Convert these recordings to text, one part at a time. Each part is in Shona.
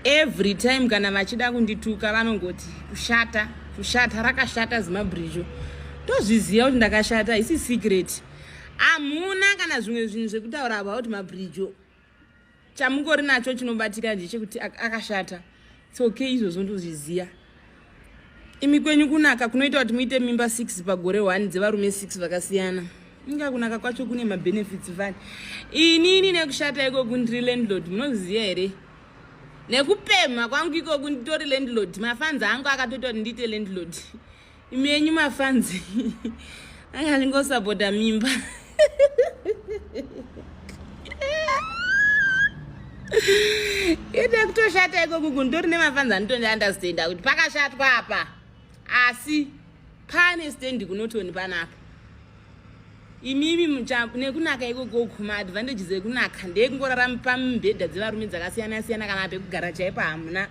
every time kana vachida kundituka vanongoti kushata kushata rakashata zimabrizho tozviziva kuti ndakashata hisi secret hamuna kana zvimwe zvinhu zvekutaura about mabrizho chamungori nacho chinobatika ndechekuti akashata its okay izvozvo ndozviziva imi kwenyu kunaka kunoita kuti muite mimba 6 pagore 1 dzevarume 6 vakasiyana inga kunaka kwacho kune mabenefits vani inini nekushata ikoku ndiri landlord munoziva here nekupemha kwangu ikoku nditori landlord mafanzi angu akatoita kuti ndiite landlord imi yenyu mafanzi anga ndingosapota mimba ine kutoshata iko kuku ndori nemafanzi anotoni understanda kuti pakashatwa apa asi pane standi kunotoni panaka imimi nekunaka ikoko kuma advantages ekunaka ndeyekungorara pamibhedha dzevarume dzakasiyana siyana kana pekugara chaipo hamuna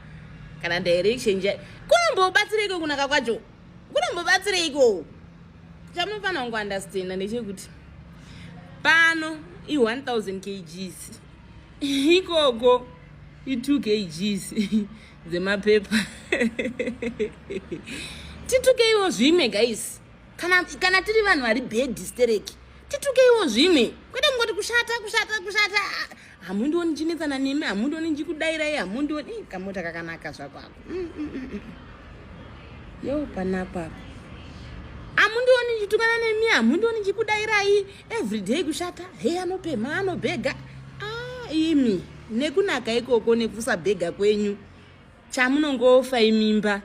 kana direction chai kunombobatsira iko kunaka kwacho kunombobatsireiko chamunofanira kungu understanda ndechekuti pano i1000 kgs ikoko i2 kgs dzemapepa titukeiwo zvimwe guys kana, kana tiri vanhu vari bedi stereki titukeiwo zvimwe kwete kungoti kushata kushata kushata hamundioni ndichinetsana nemi hamundioni ndichikudairai hamundioni i kamota kakanaka zvako ako mm, mm, mm, yo panako ako hamundioni ndichitukana nemi hamundioni ndichikudairai everyday kushata he anopemha anobhega a ah, imi nekunaka ikoko nekusabhega kwenyu chamunongofa imimba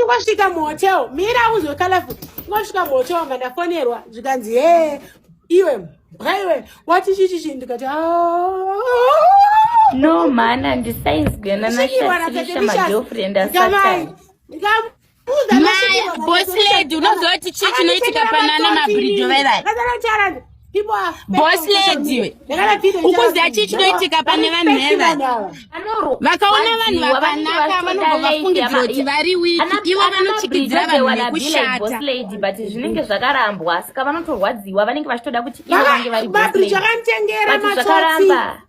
Wasvika muhotel mira uzwe colorful. Wasvika muhotel wanga ndafonerwa zvikanzi he iwe bwaiwe wati chichichi ndikati no man andisainzwena nashatsirisha magirlfriend asatani bosiledi unoziva kuti chii chinoitika panana mabhridho vevai boss lady ukuziva chii chinoitika pane vanhu heva vakaona vanhu vakanaka vanobva vafungidzira kuti vari wiki ivo vanochikidzira vanhu nekushatazvinenge zvakarambwa saka vanotorwadziwa vanenge vachitoda kuti ivo vange vari boss lady vakaramba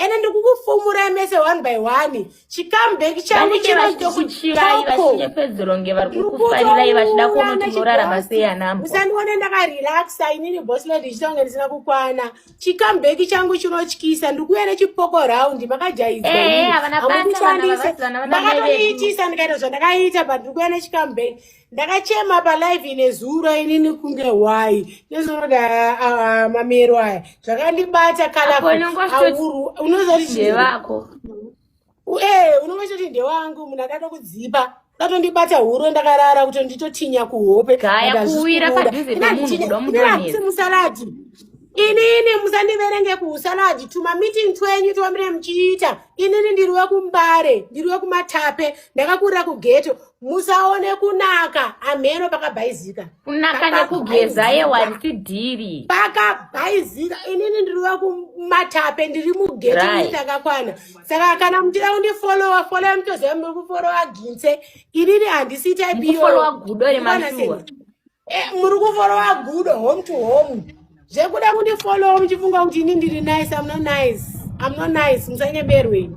ende ndiri kukufumurai mese one by one chikambek changu chinoitokutimusandione ndakarelaxa inini bosland ichitonge ndisina kukwana chikambek changu chinotyisa ndiri kuuya nechipoko round makajaizaamundishandise ndakatoiitisa ndikaita zvandakaita but ndiri kuuya nechikambek ndakachema palive ine zuro inini kunge hwai nezvinoda mamero aya zvakandibata kalaunozatidevako ee unonga choti ndewangu munhu akada kudzipa katondibata huro ndakarara kuti nditotinya kuhope musaladi inini musandiverenge kuusaladi tumamiting twenyu twamire muchiita inini ndiri wekumbare ndiri wekumatape ndakakurira kugeto musaone kunaka amheno pakabhaizika kunaka nekugeza yewani tidhiri pakabhaizika inini ndiri wekumatape ndiri mugeti akakwana saka kana muchida kundifolowa folowa mutoziva muri kufolowa ginse inini handisi taipiyofolowa gudo remashuwa eh, muri kufolowa gudo home to home zvekuda kundifolowa muchifunga kuti ini ndiri nice amno nice amno nice musanyeberweni